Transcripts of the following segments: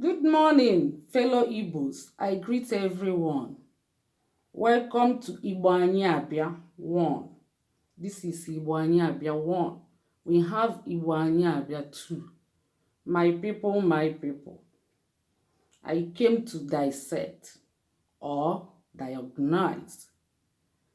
Good morning, fellow Igbos. I greet everyone. Welcome to Igbo Anyị Abịa 1. This is Igbo Anyị Abịa 1. We have Igbo Anyị Abịa 2. My people, my people. I came to dissect or diagnose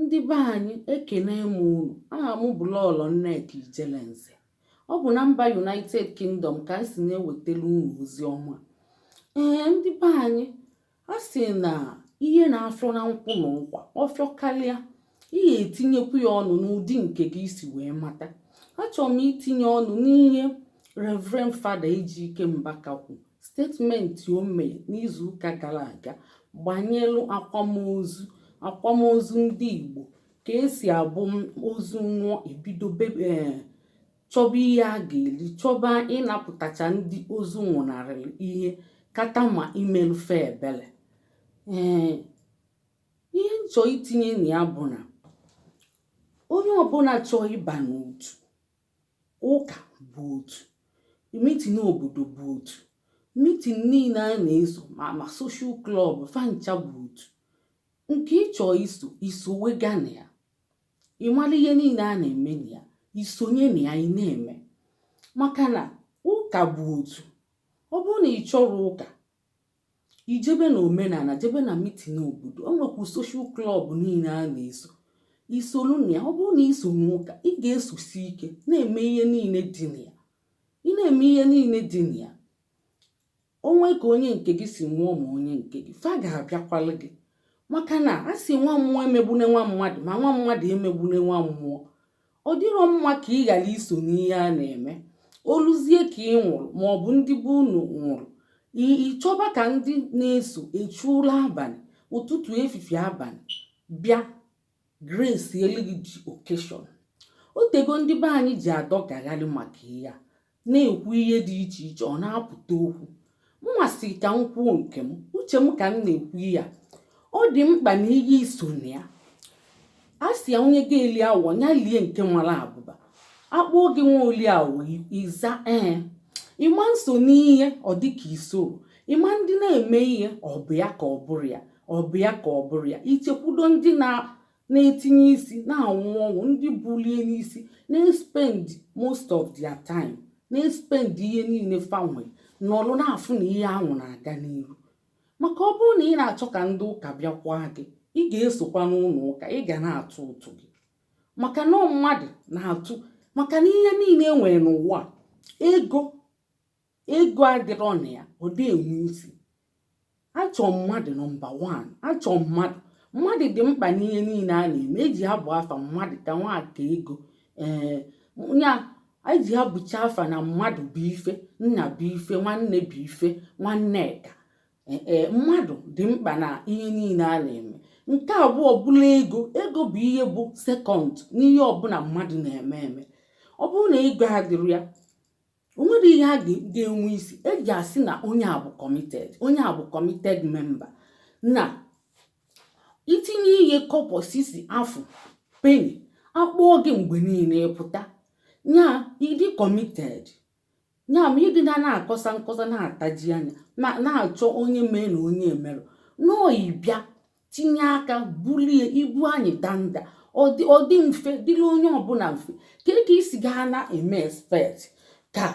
Ndị be anyị ekene m unu. Aha m bụ Lọọlọ Nneka Ijelenze. Ọ bụ na mba United Kingdom ka m si na-ewetara unu ozi ọma. Ee, ndị be anyị a sị na ihe na-afịọ na nkwụ na nkwa ọ fịọkarịa ị ga-etinyekwu ya ọnụ n'ụdị nke gị i si wee mata. Achọrọ m itinye ọnụ n'ihe Reverend Fada Ejike Mbaka kwuru Statement o mere n'izuụka gara aga gbanyelụ akwamozu akwamozu ndị Igbo ka e si abụ ozu nwụọ e bido eh, chọba ihe a ga-eri chọba ịnapụtacha ndị ozu nwụnarịrị ihe kata ma imelụ fa ebele ee eh, ihe m chọ itinye na ya bụ na onye ọbụla chọọ ịba n'otu ụka bụ otu meeting obodo bụ otu meeting niile a na-eso ma ma social club fa ncha bụ otu nke ị chọ iso i sowega na ya ị mara ihe niile a na-eme na ya i sonye na ya ị na-eme maka na ụka bụ otu ọ bụrụ na ị chọrọ ụka i jebe na omenala jebe na meeting obodo o nwekwu social club niile a na-eso i soro na ya ọ bụrụ na i so n'ụka ị ga-esosi ike na-eme ihe niile dị na ya ị na-eme ihe niile dị na ya o nwe ka onye nke gị si nwụọ ma onye nke gị fa ga-abịakwalụ gị maka na a sị nwa mmụọ emegbune nwa mmadụ ma nwa mmadụ emegbune nwa mmụọ ọ dịrọ mma ka ị ghara iso n'ihe a na-eme o luzie ka ị nwụrụ ma ọ bụ ndị be unu nwụrụ ị chọba ka ndị na-eso echu ụra abalị ụtụtụ efifie abalị bịa grace eli gị ji occasion o tego ndị be anyị ji adọgagharị maka ihe a na-ekwu ihe dị iche iche ọ na-apụta okwu mụnwa sị ka m kwuo nke m uche m ka m na-ekwu ya ọ dị mkpa na ihe i so na ya a sị ya onye ga-eli awọ ya lie nke mara abụba a kpọọ gị nwa oli awọ ị za ee ị ma na i so n'ihe ọ dị ka i soro ị ma ndị na-eme ihe ọ bụ ya ka ọ bụrụ ya ọ bụ ya ka ọ bụrụ ya i chekwudo ndị na na-etinye isi na-anwụ ọnwụ ndị bulie n'isi na-espend most of their time na-espend ihe niile fa nwe n'ọlụ na-afụ na ihe anwụ na-aga n'iru maka ọ bụrụ na ị na-achọ ka ndị ụka bịakwa gị ị ga-esokwa n'ụlọ ụka ị ga na-atụ ụtụ gị maka na mmadụ na-atụ maka na ihe niile e nwere n'ụwa a ego ego adịrọ na ya ọ dị enwe isi achọ mmadụ nọmba 1 achọ mmadụ mmadụ dị mkpa n'ihe niile a na-eme eji abụ afa mmadụ ka nwa ka ego ee ya eji abụcha afa na mmadụ bụ ife nna bụ ife nwanne bụ ife nwanne ka ee mmadụ dị mkpa na ihe niile a na-eme nke abụọ bụla ego ego bụ ihe bụ sekọnd n'ihe ọbụla mmadụ na-eme eme ọ bụrụ na ego adịrọ ya o nwero ihe ga-enwe isi eji asị na onye a bụ kọmited onye a bụ kọmited memba na itinye ihe kọpọ sisi afụ peni a kpọọ gị mgbe niile ị pụta nya ị dị kọmited nya ma ị dị na na-akọsa nkọsa na-ataji anya na-achọ onye mee na onye emerọ no ị bịa tinye aka bulie ibu anyị danda ọ dị mfe dịrị onye ọbụla mfe kee ka i si gaa na eme expect ka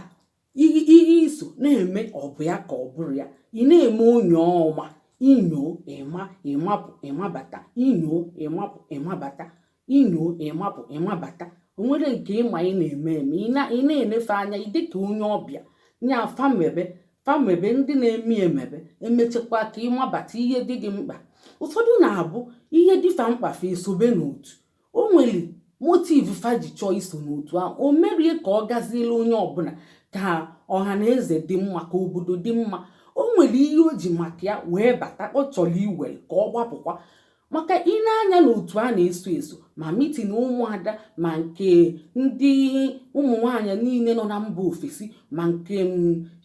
ihe i so na-eme ọ bụ ya ka ọ bụrụ ya ị na-eme onye ọma inyo ịma ịmapụ ịmabata inyo ịmapụ ịmabata inyo ịmapụ ịmabata o nwere nke ị ma ị na-eme eme ị na-ene fa anya ị dị ka onye ọbịa nya fa mebe fa mebe ndị na-eme emebe emechekwa ka ịmabata ihe dị gị mkpa ụfọdụ na-abụ ihe dị fa mkpa fa esobe n'otu o nwere motiv fa ji chọọ iso n'otu ahụ o merọ ya ka ọ gaziela onye ọbụla ka ọha na eze dị mma ka obodo dị mma o nwere ihe o ji maka ya wee bata ọ chọrọ iwere ka ọ gbapụkwa maka i nee anya n'otu a na-eso eso ma mitin ụmụada ma nke ndị ụmụ nwaanyị niile nọ na mba ofesi ma nke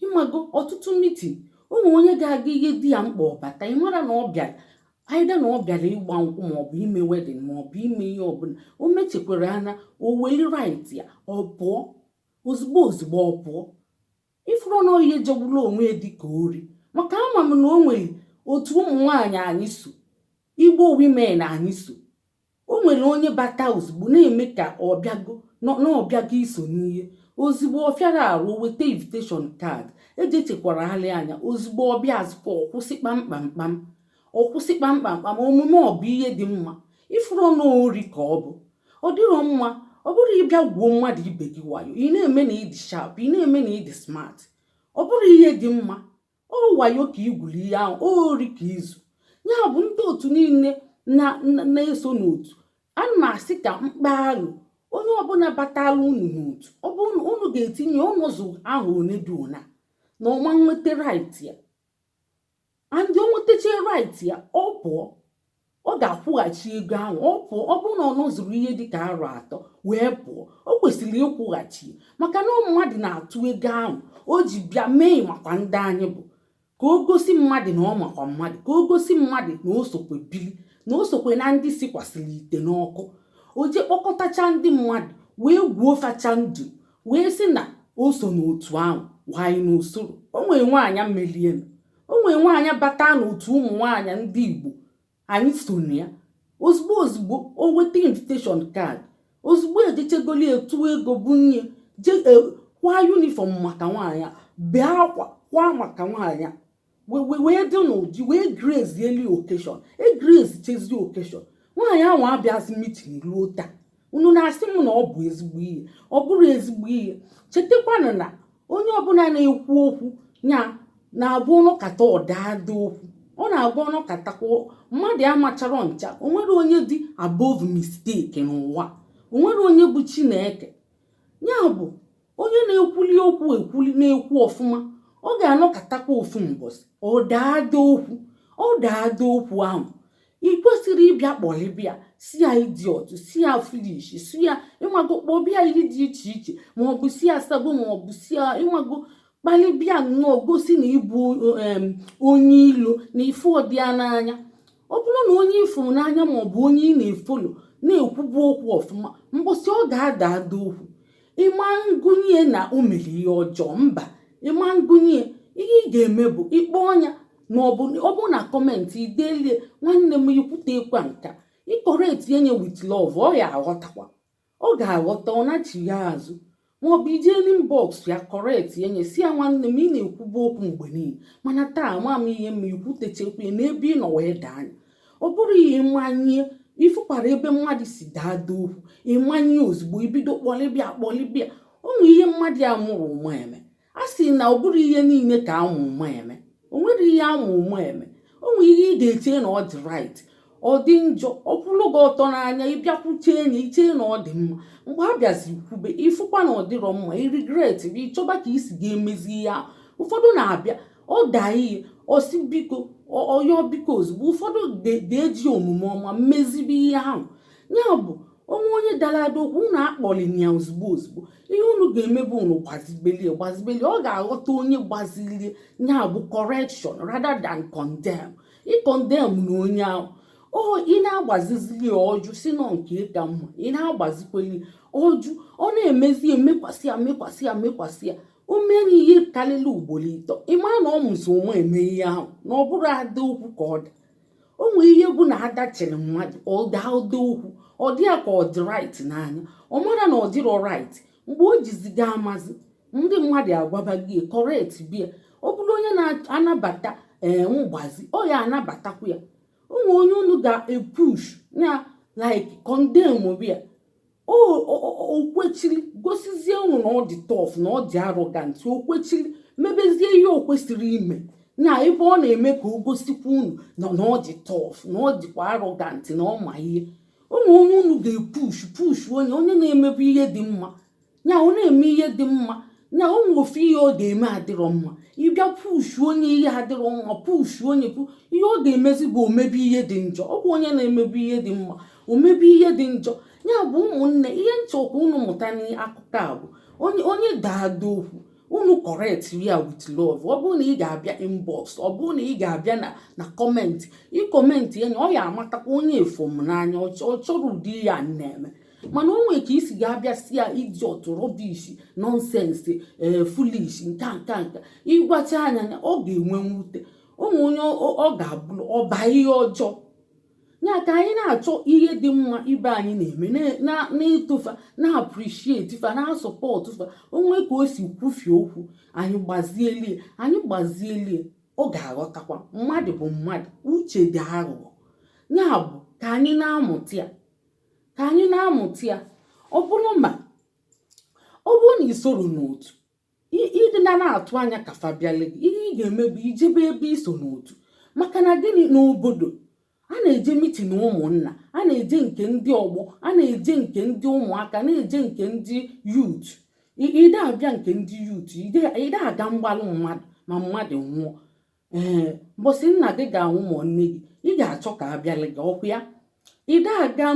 ịmago ọtụtụ mitin ụmụ onye ga-aga ihe dị ya mkpa ọ bata ị mara na ọ bịara aida na ọ bịara ịgba nkwụ maọbụ ime wedin maọbụ ime ihe ọbụla o mechekwara anya o weli rait ya ọ pụọ ozugbo ozugbo ọ pụọ ị fụrụ na ọ ihe jọgburu onwe ya dịka ori maka ama m na o nwere otu ụmụ nwaanyị anyị so igbo wimen anyị so o nwere onye bata ozugbo na-eme ka ọ bịago na ọ bịago iso n'ihe ozugbo ọ fịara arụ weta invitation card ejechekwara alị anya ozugbo ọ bịazikwa ọ kwụsị kpam kpam kpam ọ kwụsị kpamkpam kpam omume ọ bụ ihe dị mma ịfụrọ na ọ ori ka ọ bụ ọ dịrọ mma ọ bụrụ ịbịa gwuo mmadụ ibe gị wayo ị na-eme na ịdị sharp ị na-eme na ịdị smart ọ bụrụ ihe dị mma ọ wayo ka i gwuli ihe ahụ ori ka izu ya bụ ndị otu niile na-eso n'otu a na-asị ka m kpaalụ onye ọbụla batara unu n'otu ọ bụ unu ga-etinye ọ nọzu arọ one dị ona na ọ ma nweta right ya and o nwetacha right ya ọ pụọ ọ ga-akwụghachi ego ahụ ọ pụọ ọ bụrụ na ọ nọzuru ihe dịka arọ atọ wee pụọ o kwesịrị ịkwụghachi maka na ọ mmadụ na-atụ ego ahụ o ji bịa mee makwa ndị anyị bụ ka o gosi mmadụ na ọ makwa mmadụ ka o gosi mmadụ na o sokwe bili na o sokwe na ndị sikwasịrị ite n'ọkụ o je kpọkọtacha ndị mmadụ wee gwuo facha ndụ wee sị na o so n'otu ahụ wayo n'usoro o nwere nwaanyị melienụ o nwere nwaanyị bata n'otu ụmụ nwaanyị ndị igbo anyị so na ya ozugbo ozugbo o weta invitation card ozugbo ejechegoli etue ego bunye jee kwa uniform maka nwaanyị a bee akwa kwa maka nwaanyị a wee dị n'ụdị wee graceeli occasion e gracechezi occasion nwaanyị ahụ abịazi meeting ruo taa unu na-asị m na ọ bụ ezigbo ihe ọ bụrụ ezigbo ihe chetakwanụ na onye ọbụla na-ekwu okwu ya na-abụ ọ nọkata ọ daa ada okwu ọ na-abụ ọ nọkatakwa mmadụ amachara ncha o nwere onye dị above mistake n'ụwa o nwere onye bụ chineke ya bụ onye na-ekwuli okwu ekwuli na-ekwu ọfụma ọ ga-anọkatakwa ofu mbọsị ọ daa ada okwu ọ daa ada okwu ahụ ị kwesịrị ịbịa kpọlịbịa sị ya idiot sị ya foolish sị ya ịmago kpọbịa ihe dị iche iche ma ọ bụ sị ya sabo ma ọ bụ sị ya ịmago kpalịbịa nnọọ gosi na ị bụ em, onye ilo na ị fụrọdị ya n'anya ọ bụrụ na onye ị fụrụ n'anya ma ọ bụ onye ị na-efollow na-ekwubu okwu ọfụma mbọsị ọ ga-ada ada okwu ị ma ngụnye na o mere ihe ọjọọ mba ị ma ngụnye ihe ị ga-eme bụ ị kpọọ nya ma ọ bụ na comment i delie nwanne m i kwuteekwa nka i correctie nye with love ọ ya aghọtakwa ọ ga-aghọta ọ nachiya azụ maọbụ i je inbox ya correctie nye sị ya nwanne m ị na-ekwubu okwu mgbe niile mana taa ama m ihe ma ikwutechekwa n'ebe ị nọ wee daa nya ọ bụrọ ya ịmanye ịfụkwara ebe mmadụ si daa ada okwu ịmanye ozugbo ibido kpọlịbịa kpọlịbịa o nwe ihe mmadụ amarọ ụma eme a sị na ọ bụrọ ihe niile ka a ma ụma eme o nwere ihe a ma ụma eme o nwere ihe ị ga-eche na ọ dị right ọ dị njọ ọ kwụrụ gị ọtọ n'anya ị bịa kwuchee nye i che na ọ dị mma mgbe a bịazi kwube ịfụkwa na ọ dịrọ mma i regret ị chọba ka i si ga-emezi ihe ahụ ụfọdụ na-abịa ọ daa ihe ọ sị biko ọ- ọ yọọ biko ozugbo ụfọdụ de- ga-eji omume ọma mezibe ihe ahụ ya bụ o nwee onye dara ada okwu unu akpọlina ya ozugbo ozugbo ihe unu ga-eme bụ unu gbazibelie gbazibelie ọ ga-aghọta onye gbazilie ya bụ correction rather than condemn ịkọndem na onye ahụ o ị na-agbazizili ọ jụ sị na ọ nke ya ka mma ị na-agbazikweli ọ jụ ọ na-emezi ya mekwasị ya mekwasị ya mekwasị ya o mere ihe karịrị ugboro ịtọ ị mara na ọ mazi ụma eme ihe ahụ na ọ bụrọ ada okwu ka ọ dị o nwere ihe bụ na-adachiri mmadụ ọ daa ada okwu ọ dị ya ka ọ dị right n'anya ọ marọ na ọ dịrọ right mgbe o jizi ga-amazi ndị mmadụ agwaba gị correct bia ọ bụrụ onye na-anabata ee mgbazi ọ ya-anabatakwa ya o nwere onye unu ga-epush na like condemn bia o kwechiri gosizie unu na ọ dị tough na ọ dị arrogant o kwechiri mebezie ihe o kwesịrị ime na ebe ọ na-eme ka o gosikwa unu na ọ dị tough na ọ dịkwa arrogant na ọ ma ihe o nwere onye unu ga-epush push onye onye na-emebu ihe dị mma ya ọ na-eme ihe dị mma na o nwere ofu ihe ọ ga-eme adịrọ mma ị bịa push onye ihe adịrọ mma push onye pu ihe ọ ga-emezi bụ o mebe ihe dị njọ ọ bụ onye na-emebu ihe dị mma o mebe ihe dị njọ ya bụ ụmụnne ihe m chọkwa unu mụta n'akụkọ a bụ onye onye daa ada okwu unu correct ya with love ọ bụrụ na ị ga-abịa inbox ọ bụrụ na ị ga-abịa na na comment ị comment ya na ọ ya-amatakwa onye a fụ m n'anya ọ chọ- ọ chọrọ ụdị ihe a m na-eme mana o nwere ka i si ga-abịa sị ya idiot rubbish nonsense ee eh, foolish nka nka nka ị gwacha ya nya ọ ga-enwe mwute o nwere onye ọ ga-abụ ọ baa ihe ọjọọ ya ka anyị na-achọ ihe dị mma ibe anyị na-eme na-eto fa na-appreciate fa na-asupport fa o nwee ka o si kwufie okwu anyị gbazielie anyị gbazielie ọ ga-aghọtakwa mmadụ bụ mmadụ uche dị aghụghọ ya bụ ka anyị na-amụta ya ka anyị na-amụta ya ọ bụrụ ma ọ bụrụ na i soro n'otu ị dị na na-atụ anya ka fa bịale gị ihe ị ga-eme bụ i jebe ebe i so n'otu maka na gịnị n'obodo a na-eje mitin ụmụnna a na-eje nke ndị ọgbọ a na-eje nke ndị ụmụaka na-eje nke ndị youth i de abịa nke ndị youth i de aga mgbalụ mmadụ ma mmadụ nwụọ ee mbọsị nna gị ga-anwụ ma nne gị ị ga-achọ ka a bịara gị ọkwa ya i de aga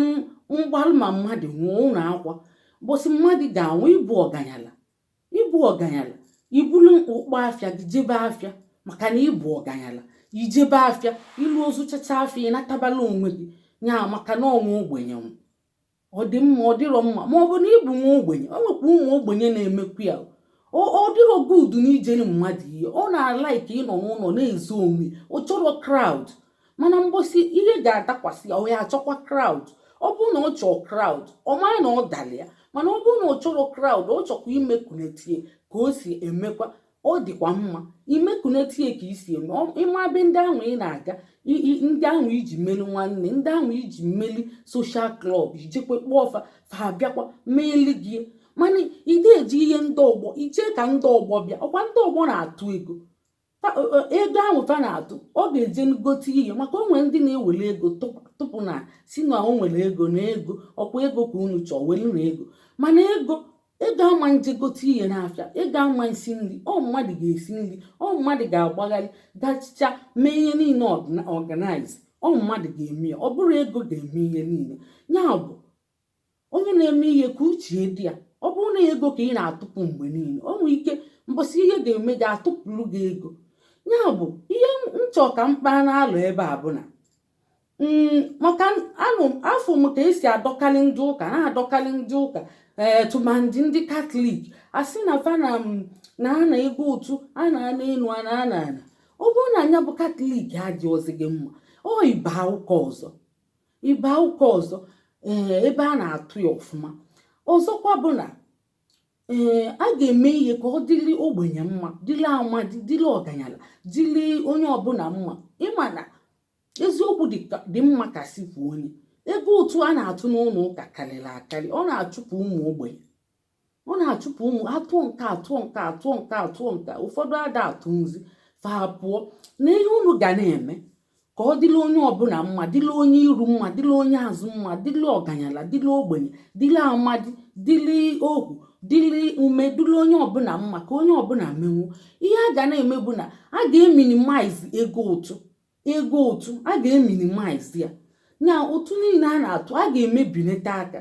mgbalụ ma mmadụ nwụọ ụlọ akwa mbọsị mmadụ ga-anwụ ị bụ ọganyala ị bụ ọganyala i bulu ụkpa afịa gị jebe afịa maka na ị bụ ọganyala i jebe afịa i luo zụchacha afịa ị natabalụ onwe gị nya maka na ọ nwa ogbenye nwụ ọ dị mma ọ dịrọ mma ma ọ bụ na ịbụ nwa ogbenye o nwekwa ụmụ ogbenye na-emekwu ya ọ dịrọ good na ijere mmadụ ihe ọ na-alike ịnọ n'ụlọ na-ezo onwe ọ chọrọ crowd mana mbọsị ihe ga-adakwasị ya ọ ya achọkwa crowd ọ bụrụ na ọ chọọ crowd ọ mara na ọ dara ya mana ọ bụrụ na ọ chọrọ crowd ọ chọkwa imekunetie ka o si emekwa ọ dịkwa mma imekunetie ka i si eme ịma be ndị ahụ ị na-aga ndị ahụ i ji meli nwanne ndị ahụ i ji meli social club i jekwe kpọọ fa fa abịakwa meeli gị mana ị da eje ihe ndị ọgbọ i chee ka ndị ọgbọ bịa ọkwa ndị ọgbọ na-atụ ego ego ahụ fa na-atụ ọ ga-eje gote ihe maka o nwere ndị na-ewere ego tụpụ na-asị na o nwere ego na ego ọkwa ego ka unu chọọ welu na ego mana ego ego ama nje gote ihe n'afịa ego ama nsi nri ọ mmadụ ga-esi nri ọ mmadụ ga-agbagharị gachicha mee ihe niile organize ọ mmadụ ga-eme ya ọ bụrọ ego ga-eme ihe niile ya bụ onye na-eme ihe ka uche dị ya ọ bụrụ na ego ka ị na-atụpụ mgbe niile o nwere ike mbọsị ihe ga-eme gị a tụpụrụ gị ego ya bụ ihe m chọ ka m kpaa n'alọ ebe a bụ na mm, maka anụ afụ m ka e si adọkarị ndị ụka na-adọkarị ndị ụka ee eh, tụmandị ndị katọlik a sị na fa na mm, na-ana ego ụtụ a na-ana enu a na-ana ana ọ bụrụ na nya bụ katọlik adịghịzi gị mma o ị baa ụka ọzọ ị baa ụka ọzọ ee eh, ebe a na-atụ ya ọfụma ọzọkwa bụ na ee a ga-eme ihe ka ọ dịrị ogbenye mma dịrị amadi dịrị ọganyala dịrị onye ọbụla mma ịma na eziokwu dị ka- dị mma ka si kwuo onye ego ụtụ a na-atụ n'ụlọ ụka karịrị akarị ọ na-achụpụ ụmụ ogbenye ọ na-achụpụ ụmụ atụọ nke atụọ nke atụọ nke atụọ nke ụfọdụ ada atụ nzi fa pụọ na ihe unu ga na-eme ka ọ dịlị onye ọbụla mma dịlị onye iru mma dịlị onye azụ mma dịlị ọganyala dịlị ogbenye dịlị amadi dịlị ohu dịlị ume dịlị onye ọbụla mma ka onye ọbụla menwu ihe a ga na-eme bụ na a ga-eminimize ego ụtụ ego ụtụ a ga-eminimize ya na ụtụ niile a na-atụ a ga-emebinata aka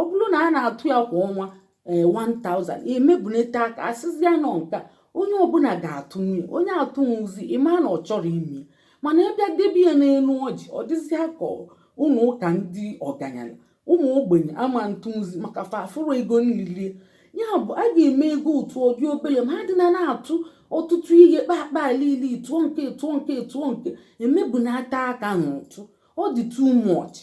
ọ bụrụ na a na-atụ ya kwa ọnwa ee eh, 1000 emebunata aka a sịzịa na ọ nke onye ọbụla ga-atụnwu onye atụnwuzi ị ma na ọ chọrọ ime mana ị bịa debe ya n'elu ọjị ọ dịzịa ka ụlọ ụka ndị ọganyala ụmụ ogbenye ama ntụnwuzi maka fa afụrọ ego nlili ya bụ a ga-eme ego ụtụ ọ dị obele ma adịna na-atụ ọtụtụ ihe kpakpa alili tụọ nke tụọ nke tụọ nke emebunata aka n'ụtụ ọ dị too much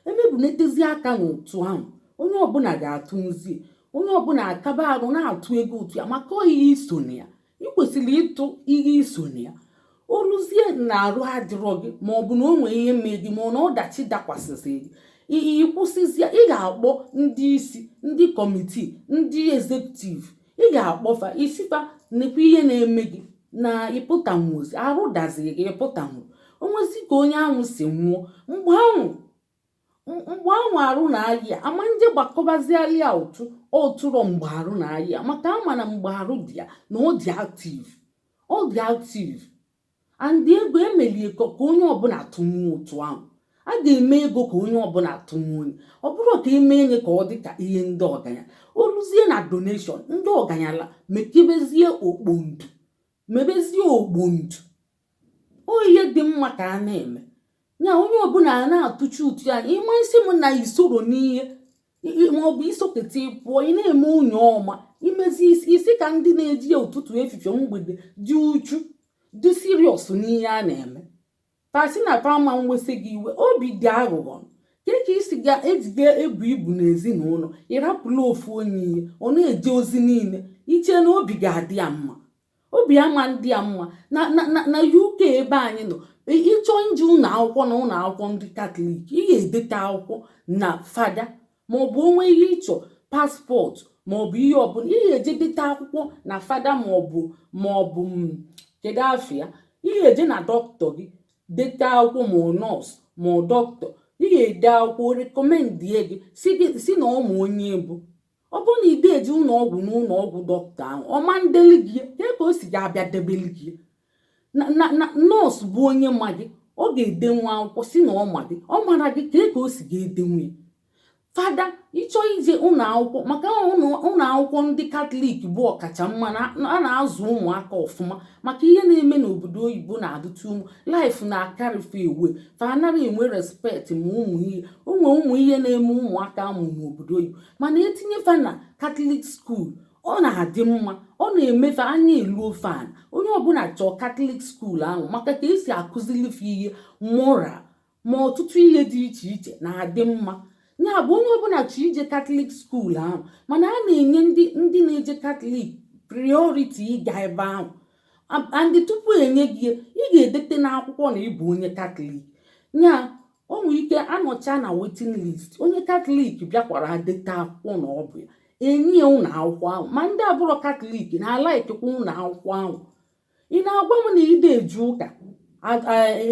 emebunetezi aka n'ụtụ ahụ onye ọbụla ga-atụnwuzi onye ọbụla akaba arụ na-atụ ego ụtụ ya maka ọ ihe iso na ya ị kwesịrị ịtụ ihe iso na ya oluzie na arụ adịrọ gị ma ọ bụ na o nwee ihe mee gị ma ọ na ọdachi dakwasịzị gị ị kwụsịzie ị ga-akpọ ndị isi ndị kọmitii ndị ezekutiv ị ga-akpọ fa ị sị fa nekwa ihe na-eme gị na ịpụtanwuozi arụ daziri gị ịpụtanwu onwezi ka onye ahụ si nwụọ mgbe ahụ mgbe ahụ arụ na-ayị ya ama nje gbakọbaziali ya ụtụ ọ tụrọ mgbe arụ na-ayị ya maka a ma na mgbe arụ dị ya na ọ dị aktiv ọ dị aktiv and ego emelie ka ka onye ọbụla tụnwuo ụtụ ahụ a ga-eme ego ka onye ọbụla tụnwuo nya ọ bụrọ ka emee nya ka ọ dị ka ihe ndị ọganyala oluzie na donation ndị ọganyala mekebezie okpondu mebezie okpondu ọ ihe dị mma ka a na-eme ya onye ọbụla a na-atụchi ụtụ ya ị ma nsị m na isoro n'ihe maọbụ isoketa ịpụọ ị na-eme onye ọma imezi isi ka ndị na-eje ya ụtụtụ efifie mgbede dị uchu dị siriọs n'ihe a na-eme fa sị na fa ama nwesị gị iwe obi dị aghụghọ kee ka isi ga ejiga ebu ibu n'ezinụlọ ịrapụla ofu onye ihe ọ na-eje ozi niile iche na obi ga-adị ya mma obi ama ndị ya mma na na na na uk ebe anyị nọ ị- ịchọọ ije ụlọ akwụkwọ na ụlọ akwụkwọ ndị katọlik ị ga-edeta akwụkwọ na fada ma ọ bụ o nwe ihe ị chọ paspọtụ ma ọ bụ ihe ọbụla ị ga-eje deta akwụkwọ na fada ma ọ bụ ma ọ bụ m, kedu afa ya ị ga-eje na dọkịta gị deta akwụkwọ ma ọ nọọsụ ma ọ dọkịta ị ga-ede akwụkwọ rekọmendie gị si gị si na ọ ma onye ị bụ ọ bụrụ na ịdị eje ụlọ ọgwụ na ụlọ ọgwụ dọkịta ahụ ọ ma ndeli gị ya kee ka o si ga-abịa debeli gị nọọsụ bụ onye ma gị ọ ga-edenwu akwụkwọ sị na ọ ma gị ọ mana gị kee ka o si ga-edenwu ya fada ịchọ ije ụlọ akwụkwọ maka ụlọ akwụkwọ ndị katọlik bụ ọkacha mma a na-azụ ụmụaka ọfụma maka ihe na-eme n'obodo oyibo na-adịtụ ụmụ laif na-akarị fa ewe fa anaghị enwe respekt ma ụmụ ihe onwe ụmụ ihe na-eme ụmụaka a mụ n'obodo oyibo mana etinye fa na katọlik skuul ọ na-adị mma ọ na-eme fa anya eluo fa ana onye ọbụla chọọ katọlik skuul ahụ maka ka esi akụzili fa ihe moral ma ọtụtụ ihe dị iche iche na-adị mma ya bụ onye ọbụla chọ ije katọlik skuul ahụ mana a na-enye ndị ndị na-eje katọlik prioriti ịga ebe ahụ and tupu e nye gị ya ị ga-edete n'akwụkwọ na ị bụ onye katọlik ya o nwere ike a nọcha na waiting list onye katọlik bịakwara deta akwụkwọ na ọ bụ ya e nye ụlọ akwụkwọ ahụ ma ndị abụrọ katọlik na-alikekwa ụlọ akwụkwọ ahụ ị na-agwa m na ị de eje ụka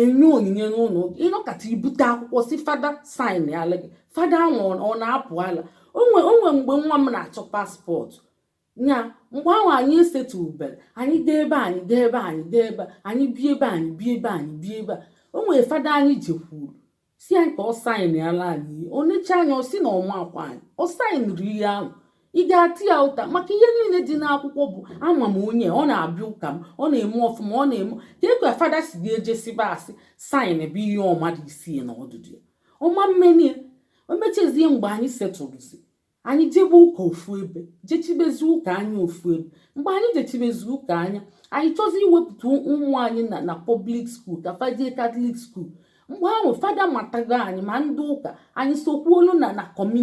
enye onyinye n'ụlọ ị nọkata i bute akwụkwọ sị fada sainala gị fada ahụ ọ na-apụ ala o nwe mgbe nwa m na-achọ passport nya mgbe ahụ anyị esetụberọ anyị dee ebe anyị dee ebe anyị dee ebe anyị bie ebe anyị bie ebe anyị bie ebe a o nwere fada anyị jekwuru sị ya ka ọ saịnala anyị ihe o necha anya ọ sị na ọ maakwa anyị ọ saịnrọ ihe ahụ ị ga-ata ya ụta maka ihe niile dị n'akwụkwọ bụ ama m onye ọ na-abịa ụka m ọ na-eme ọfụma ọ na-eme ka ekwe fada si gị jee sịba asị saịnba ihe ọ marọ isi na ọdụdụ ya ọ ma emeni ya o mechazie mgbe anyị setụrụzi anyị jebe ụka ofu ebe jechibezi ụka anya ofu ebe mgbe anyị jechibezi ụka anya anyị chọzi iwepụta ụmụ anyị na na public school ka fa jee katọlik school mgbe ahụ fada matago anyị ma ndị ụka anyị sokwuolu na na community